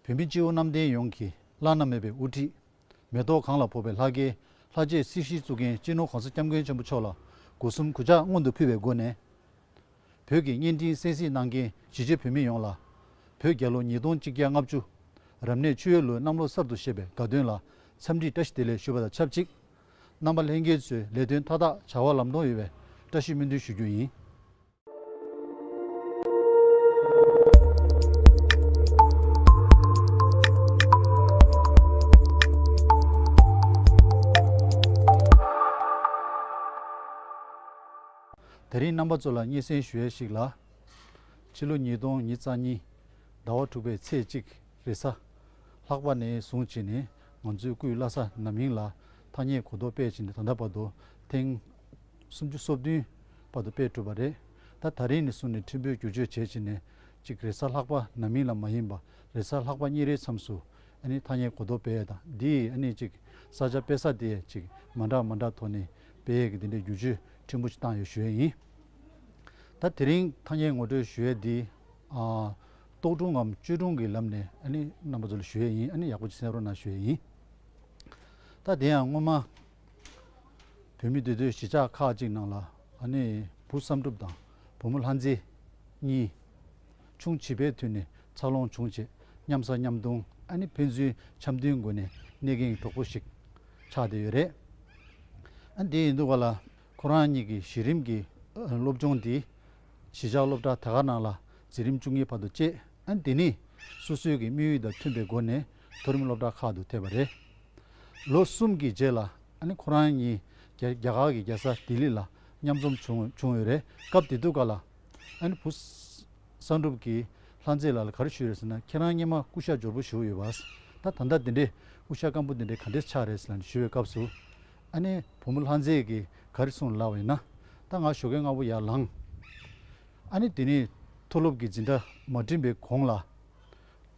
བོད་མི་སྤྱི་བོ་གནམ་བསྟན་ཡོངས་ཀྱི་བླ་ན་མེད་པའི་དབུ་ཁྲིད། མེ་ཏོག་གངས་ལ་ཕོག་པའི་ལྷ་སྐལ་ལྷ་རྗེའི་སྲིད་ཞིའི་གཙུག་རྒྱན་སྤྱི་ནོར་གོང་ས་སྐྱབས་མགོན་ཆེན་པོ་མཆོག་ལ་སྒོ་གསུམ་གུས་ཕྱག་སྔོན་དུ་ཕུལ་བའི་སྒོ་ནས། བོད་ཀྱི་བརྙན་འཕྲིན་གསན་གཟིགས་གནང་མཁན་གཞིས་བྱེས་བོད་མི་ཡོངས་ལ། བོད་རྒྱལ་ལོ་ཉིས་སྟོང་གཅིག་བརྒྱ་ལྔ་བཅུ། རབ་གནས་མཆོད་ཡོལ་ལོའི་གནམ་ལོ་གསར་དུ་བཞད་པའི་དགའ་སྟོན་ལ་འཚམས་འདྲིའི་བཀྲ་ཤིས་བདེ་ལེགས་ཞུ་བ་དང་ཆབས་ཅིག། རྣམ་པ་ལྷན་རྒྱས་ཚོའི་ལས་དོན་མཐའ་དག་བྱ་བ་ལམ་ལྷོང་ཡོད་པའི་བཀྲ་ཤིས་སྨོན་འདུན་ཞུ་རྒྱུ་ཡིན། དེ་རིང་རྣམ་པ་ཚོ་ལ་སྙན་གསེང་ཞུ་ཡས་ཤིག་ལ། ཕྱི་ལོ་ཉིས་སྟོང་ཉིས་རྩ་གཉིས་ཟླ་བ་དྲུག་པའི་ཚེས་གཅིག་རེས་གཟའ། ལྷག་པ་ནས་བཟུང་བྱས་ནས་ང་ཚོའི་སྐུའི་བླ་ས་ནམ་ཡིང་ལ་ཐ་སྙད་གོ་ལྡོག་སྤེལ་བྱས་ནས་ད་ལྟ་བར་དུ་ཐེངས། སུམ་ཅུ་སོ་བདུན་བར་དུ་དཔེ་བསྒྲུབས་པ་རེད་ད་ད་རིང་ནས་བཟུང་ནས་ཁྲིམས་དཔོན་བསྒྱུར་བཅོས་བྱས་བྱས་ནས་ཅིག་རེས་གཟའ་ལྷག་པ་ན་མིང་ལ་མ་ཡིན་པ་རེས་གཟའ་ལྷག་པ་གཉིས་རེའི་མཚམས་སུ་ཨ་ནི་ཐ་སྙད་གོ་ལྡོག་པས་དང་འདིས་ཨ་ནི་ཅིག་ས་ཆ་དཔེ་ས་དེ་ཅིག་མ་འདྲ་མ་འདྲ་ཐོག་ནས་དཔེ་ཡིག་གི་དེ་འདྲའི་བསྒྱུར་བཅོས་ཕྲན་བུ་ཞིག་བཏང་ཡོད་ཞུས་ཡིན། ད་དེ་རིང་ཐ་སྙད་ངོ་སྤྲོད་ཞུ་ཡས་འདི་རྟོག་སྒྲུང་ངམ་བཅོས་སྒྲུང་གི་ལམ་ནས་ཨ་ནི་རྣམ་པ་ཚོ་ལ་ཞུ་ཡས་ཡིན་ཨ་ནི་ཡག་པོ་ཅིག་སེམས་རོགས་གནང་ཞུ་ཡས་ཡིན། ད་དེ་ཡང་སྔོན་མ། བོད་མི་དེ་ཚོའི་གཞིས་ཆགས་ཁག་ཅིག་ནང་ལ་ཨ་ནེ་བུ་བསམ་གྲུབ་དང་བུ་མོ་ལྷ་མཛེས། གཉིས། ཆུང་བྱིས་པའི་དུས་ནས་འཚར་ལོངས་བྱུང་རྗེས་མཉམ་ཟ་མཉམ་འཐུང་ཨ་ནེ་ཕན་ཚུན་འཆམ་མཐུན་སྒོ་ནས་གནས་གིན་གྲོགས་པོ་ཞིག་ཆགས་བསྡད་ཡོད་རེད། ཨ་འདི་ཡིན་འདུག་བ་ལ་ཁོ་རང་གཉིས་ཀྱི་གཞི་རིམ་གྱི་སློབ་སྦྱོང་དེ་གཞིས་ཆགས་སློབ་གྲྭ་དེ་ག་ནང་ལ་འཛིན་རིམ་བཅུ་གཉིས་བར་དུ་བཅད་ཨ་འདི་ནི་སོ་སོའི་གི་དམིགས་ཡུལ་དང་མཐུན་པའི་སྒོ་ནས་མཐོ་རིམ་སློབ་གྲྭ་ཁག་ཏུ་ཐེབས་པ་རེད། ལོ་གསུམ་གྱི་རྗེས་ལ་ཁོ་རང་ཉིད་རྒྱ་གར་གྱི་རྒྱལ་ས་ལྡི་ལི་ལ་མཉམ་འཛོམས་བྱུང་ཡོད་རེད། སྐབས་དེ་དུས་ག་ལ་བུ་བསམ་གྲུབ་ཀྱིས་ལྷ་མཛེས་ལགས་ལ་ག་རེ་ཞུས་རེད་ཟེར་ན་ཁྱེད་རང་གཉིས་མ་སྐུ་ཤ་འབྱོར་པོ་བཞུགས་ཡོད་བ། ད་ད་ལྟ་དེ་འདྲའི་སྐུ་ཤ་སྐམ་པོ་དེ་འདྲའི་ག་འདྲས་ཆགས་རེད་ཟེར་ནས་ཞུས་པའི་སྐབས་སུ། བུ་མོ་ལྷ་མཛེས་ཀྱིས་ག་རེ་གསུངས་ལབ་བ་ཡིན་ན། ད་ང་ཞོགས་ཀའི་སྔ་པོ་ཡར་ལངས། དེ་ནས་མཐོ་སློབ་ཀྱི་འཛིན་གྲྭ་མ་འགྲིམས་པའི་གོང་ལ།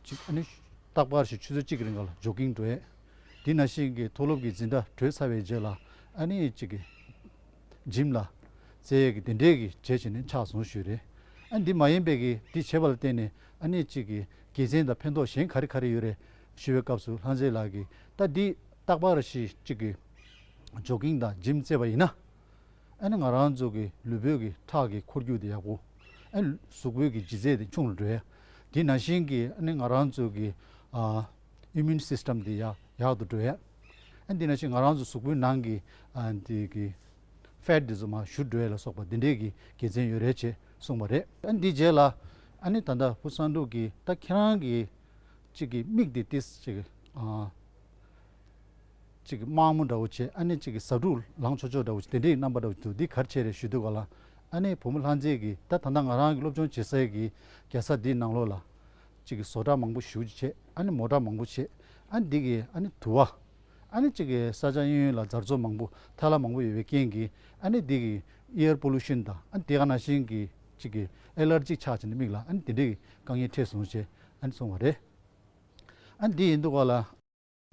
གཅིག་ཨ་ནི། རྟག་པར་ཞིག་ཆུ་ཚོད་གཅིག་གི་རིང་ག་ལ་འཇོག་གིན་འགྲོ་ཡས། དེ་ན་ཤིང་གི་མཐོ་སློབ་ཀྱི་འཛིན་གྲྭ་གྲོལ་ཚར་བའི་རྗེས་ལ་ཨ་ནི་གཅིག་གི། འཇིམ་ལ། བཙལ་ཡས་ཀྱི་དེ་འདྲས་ཀྱི་བྱས་བྱས་ནས་ཕྱག་ཟུང་ཞུས། རེད་ཨ་འདི་མ་ཡིན་པས་ཀྱི་འདི་བྱས་པ་ལ་བརྟེན་ནས་ཨ་ནི་གཅིག་གི་དགེ་མཚན་དང་ཕན་ཐོགས་གཞན་ག་རེ་ག་རེ་ཡོད་རེད་ཞུས་པའི་སྐབས་སུ་ལྷ་མཛེས་ལགས་ཀྱིས་ད་འདི་རྟག་པར་ཞིག་གཅིག་གི། འཇོག་གིན་དང་འཇིམ་བཙལ་བ་ཡིན་ན། ཨ་ནི་ང་རང་ཚོ་གི་ལུས་བོད་ཀྱི་ཁྲག་གི་འཁོར་རྒྱུག་དེ་ཡག་པོ། ཨ་ནི་གཟུགས་བོད་ཀྱི་ལྗིད་ཚད་དེ་ཆུང་ལ་འགྲོ་ཡ། དེ་ན་བཞིན་གྱི་ཨ་ནི་ང་རང་ཚོ་གི Immune System དེ་ཡག་ཏུ་འགྲོ་ཡ། ཨ་ནི་དེ་ན་བཞིན་ང་རང་ཚོ་གཟུགས་བོད་ནང་གི་དེ་གི Fat དེ་ཚོ་མ་བཞུར་འགྲོ་ཡ་ལ་སོགས་པ་དེ་འདྲས་ཀྱི་དགེ་མཚན་ཡོད་རེད་ཅེས་གསུངས་པ་རེད། ཨ་ནི་དེའི་རྗེས་ལ་ཨ་ནི་ད་ལྟ་བུ་བསམ་གྲུབ་ཀྱིས་ད་ཁྱེད་རང་གི་གཅིག་གི་མིག་དེ་ཏིས་ཅིག་གཅིག་གི་དམག་མོ་འདྲ་བོ་བྱེད་ཨ་ནེ་གཅིག་གི་ཟབ་དྲུག་ལང་ཆོག་ཆོག་འདྲ་བོ་བྱེད་དེ་འདྲའི་རྣམ་པ་འདྲ་བོ་འདུག་འདི་གར་བྱས་རེད་ཞུས་འདུག་ག་ལ་ཨ་ནེ་བུ་མོ་ལྷ་མཛེས་ཀྱིས་ད་ད་ནངས་ང་རང་གི་སློབ་སྦྱོང་བྱེད་སའི་གི་རྒྱལ་ས་འདིའི་ནང་ལོག་ལ། གཅིག་གི་བཟོ་གྲྭ་མང་པོ་བཞུགས་བྱེད་ཨ་ནེ་མོ་གྲྭ་མང་པོ་བྱེད་ཨ་འདི་གི་ཨ་ནེ་དུ་བ། ཨ་ནེ་གཅིག་གི་ས་ཆ་གཡོན་ཡོད་ལ་འཛར་ཚོ་མང་པོ་ཐལ་ལ་མང་པོ་ཡོད་པའི་རྐྱེན་གྱིས་ཨ་ནེ་འདི་གི Air Pollution དང་ཨ་འདི་ག་ན་ཤིང་གི་གཅིག་གི Allergic ཆགས་བྱེད་ནས་མིག་ལ་ཨ་ནེ་འདི་འདྲའི་གི་དཀའ་ངལ་འཕྲད་སོང་བྱེད་ཨ་ནེ་སོང་བ་རེད། ཨ་འདི་ཡིན་འདུག་ག་ལ།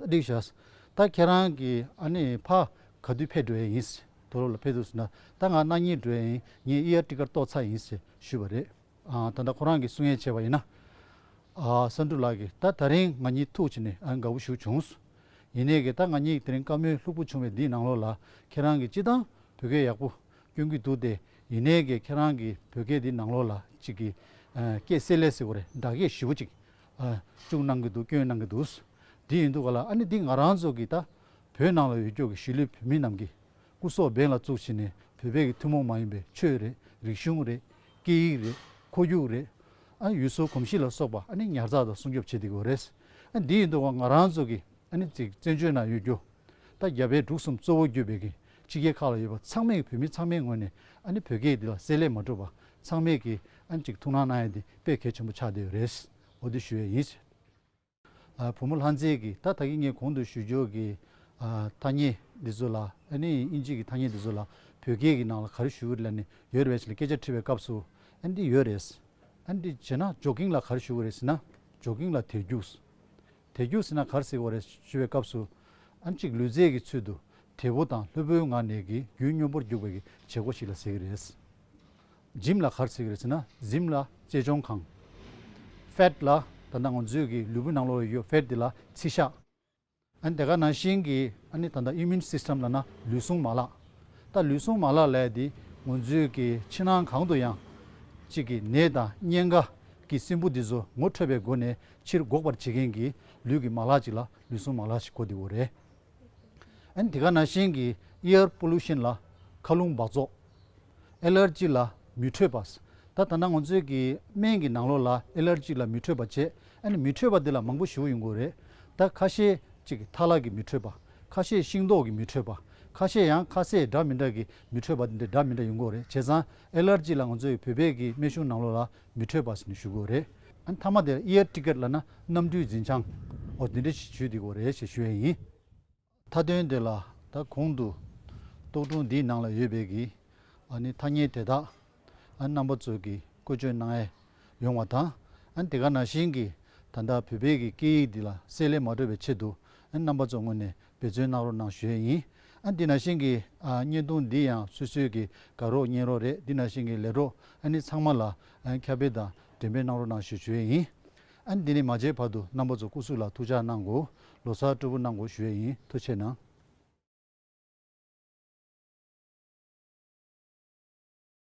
སྡིག་བྱས། ད་ཁྱེད་རང་གི་ཨ་ནེ་ཕ་ག་དུས་ཕེབས་འགྲོ་ཡས་ཡིན། དོ་རོ་ལ་ཕེབས་འདུག་ཟེར་ན་ད་ང་སྣང་ཉེ་འགྲོ་ཡས་ཡིན་ངས་ཨི་ཡར་ཀྲི་ཀར་གཏོགས་ཚར་ཡིན་ཟེར་ཞུས་པ་རེད། ད་ལྟ་ཁོ་རང་གིས་གསུང་ངན་བྱས་པ་ཡིན་ན། ས་འབྲུག་ལགས་ཀྱིས་ད་ད་རིང་ང་གཉིས་ཐུག་བྱས་ནས་ཨ་དགའ་བོ་བཞུགས་བྱུང། ཡིན་ནས་ཀྱི་ད་ང་གཉིས་ཀྱི་དེ་རིང་བཀའ་མོལ་ལྷུག་པོ་བྱུང་བའི་འདིའི་ནང་ལོགས་ལ་ཁྱེད་རང་གིས་སྤྱི་བཏང་བོད་སྐད་ཡག་པོ་སྐྱོན་གྱི་འདུག་སྟེ་ཡིན་ནས་ཀྱི་ཁྱེད་རང་གི་བོད་སྐད་འདིའི་ནང་ལོགས་ལ་ཅིག་གིས་སྐད་བསྲེས་ལས་བསྲེས་གོ་རེ་འདྲ་སྐད་ཞིབ་བོ་ཅིག་བཅུག་གནང་གི་འདུག་བསྐྱོན་གནང་གི་འདུག་དེ་ཡིན་འདུག་ག་ལ་ཨ་ནི་འདི་ང་རང་ཚོ་གི་ད་བོད་ནང་ལ་ཡོད་སྐྱོ་གི་གཞིས་ལུས་བོད་མི་རྣམས་ཀྱི་སྐུ་སྲོག་འབེན་ལ་བཙུགས་བྱས་ནས་བོད་པའི་གི་ཐུན་མོང་མ་ཡིན་པའི་ཆོས་རེད་རིག་གཞུང་རེད་སྐད་ཡིག་རེད་ཁོར་རྒྱུག་རེད་ཨ་ཡུལ་སྲོལ་གོམས་གཤིས་ལ་སོགས་པ་ཨ་ནི་ཉར་ཚགས་དང་སྲུང་སྐྱོབ་བྱེད་དེ་གོ་རེད་ཨ་འདི་ཡིན་འདུག་ག་ང་རང་ཚོ་གི་ཨ་ནི་ཙིག་བཙན་བྱོལ་ནང་ཡོད་སྐྱོ་ད་རྒྱ་བལ་འབྲུག་གསུམ་གཙོ་བོ་བརྒྱུད་པའི་གི་ཕྱི་རྒྱལ་ཁག་ལ་ཡོད་པ་ཚང་མས་གི་བོད་མི་ཚང་མའི་ངོས་ནས་ཨ་ནི་བོད་སྐད་འདི་ལ་གསལ་ལེ་མ་གྲུབ་པ་ཚང་མས་ཀྱིས་ཨ་ཅིག་ཐུགས་སྣང་གནང་ཡས་དེ་དཔེ་གལ་ཆེན་པོ་ཆགས་བསྡད་ཡོད་རེད། འོ་དེ་ཞུ་ཡས་ཡིན། བུ་མོ་ལྷ་མཛེས་ཀྱིས་ད་ད་གིས་ངས་གོང་དུ་ཞུ་འཇོག་གི་ཐ་སྙད་འདི་ཚོ་ལ་ཨ་ནེ་ཡིས་ཨིན་ཇིས་ཀྱི་ཐ་སྙད་འདི་ཚོ་ལ་བོད་སྐད་ཀྱི་ནང་ལ་ག་རེ་ཞུ་རེད་ལ་ནི་ཡོད་རེད་ཅེས་ལ་སྐད་ཆ་དྲི་བའི་སྐབས་སུ་ཨ་འདི་ཡོད་རེད། ཨ་འདི་བྱས་ན་ཇོ་ཀིང་ལ་ག་རེ་ཞུ་གི་རེད་ཟེར་ན་ཇོ་ཀིང་ལ་དེར་རྒྱུགས། དེ་རྒྱུག་ཟིན་ན་གར་གཟིགས་བ་རེད་ཞུ་བའི་སྐབས་སུ། ཨ་མཆིག་ལུས་རྩལ་གྱི་ཚུལ་དུ་དལ་བུ་དང་ལྷོད་བུའི་ངང་ནས་ཀྱི་རྒྱུའི་སྨྱོ་འབོར་རྒྱུག་པའི་གྱི་བྱེད་སྒོ་ཞིག་ལ་ཟེར་གྱི་རེད། Gym ལ་གར་གཟིགས་རེད་ཟེར་ན་གཟིམ་ལ་གཅེས་སྐྱོང་ཁང། Fat ལ་ད་ལྟ་ང་ཚོའི་གྱི་ལུས་པོའི་ནང་ལོགས་ལ་ཡོད Fat དེ་ལ་ཚིལ་ཤ། ཨ་དེ་ག་ནང་བཞིན་གྱི་ཨ་ནི་ད་ལྟ Immune System ལ་ན་ལུས་ཟུངས་མ་ལག། ད་ལུས་ཟུངས་མ་ལག་ལས་དེ་ང་ཚོའི་གྱི་ཕྱི་ནང་གང་དུ་ཡང། གཅིག་གི་ནད་དང་གཉན་ཁ་གྱི་སྲིན་བུ་དེ་ཚོ་ངོ་འཕྲོད་པའི་སྒོ་ནས་ཕྱིར་འགོག་པར་བྱེད་མཁན་གྱི་ལུས་ཀྱི་མ་ལག་ཅིག་ལ་ལུས་ཟུངས་མ་ལག་ཞེས་གོ་དེ་བོ་རེད། ཨན་དེ་ག་ན་ཤན་གྱི Ear Pollution ལ་མཁའ་རླུང་འབག་བཙོག། Allergy ལ་མི་འཕྲོད་པ། ད་ད་ནང་ང་ཚོའི་གི་སྨན་གྱི་ནང་ལོགས་ལ Allergy ལ་མི་འཕྲོད་པ་བྱས་ཨན་མི་འཕྲོད་པ་དེ་ལ་མང་པོ་ཞིག་ཡོད་དགོས་རེད། ད་ཁ་ཤས་ཅིག་གི་ཐ་ལག་གི་མི་འཕྲོད་པ། ཁ་ཤས་ཤིང་ཏོག་གི་མི་འཕྲོད་པ། ཁ་ཤས་ཡང་ཁ་ཟས་འདྲ་མི་འདྲ་གི་མི་འཕྲོད་པ་དེ་འདྲ་མི་འདྲ་ཡོད་དགོས་རེད་བྱས་ཙང Allergy ལ་ང་ཚོའི་བོད་པའི་གི་སྨན་གཞུང་ནང་ལོགས་ལ་མི་འཕྲོད་པ་ཟེར་ནས་ཞུ་དགོས་རེད། མཐའ་མ་དེར Air Ticket ལ་ན་གནམ་གྲུའི་འཛིན་བྱང་འོ་དེ་འདྲ་ཞིག་ཞུས་དགོས་རེད་ཞེས་ཞུ་ཡས་ཡིན། མཐའ་དོན་དེ་ལ་ད་གོང་དུ་རྟོག་སྒྲུང་འདིའི་ནང་ལ་ཡོད་པའི་གི་ཐ་སྙད་དེ་དག་རྣམ་པ་ཚོས་གི་བཀོལ་སྤྱོད་གནང་ཡས་ཡོང་བ་དང་དེ་ག་ན་བཞིན་གི་ད་ལྟ་བོད་པའི་གི་སྐད་ཡིག་འདི་ལ་གསལ་ལེ་མ་འགྲོ་བའི་ཆེད་དུ་རྣམ་པ་ཚོ་སྔོན་ནས་བེད་སྤྱོད་གནང་རོགས་གནང་ཞུས་ཡིན། ཨ་འདི་ན་ཤིང་གི་བརྙན་ཐུང་འདི་ཡང་སུས་སུས་ཀྱིས་དགའ་རོགས་གཉེན་རོགས་རེད་འདི་ན་ཤིང་གི་ལས་གྲོགས་ཨ་ནི་ཚང་མ་ལ་ཁྱབ་སྤེལ་དང་འགྲེམས་སྤེལ་གནང་རོགས་གནང་ཞུས་ཡིན། ཨ་འདི་ནས་མ་བརྗེད་བར་དུ་རྣམ་པ་ཚོ་སྐུ་གཟུགས་ལ་ཐུགས་ཅག་གནང་དགོས་ལོ་སར་སྤྲོ་པོ་གནང་དགོས་ཞུས་ཡིན་ཐུགས་ཆེ་གནང།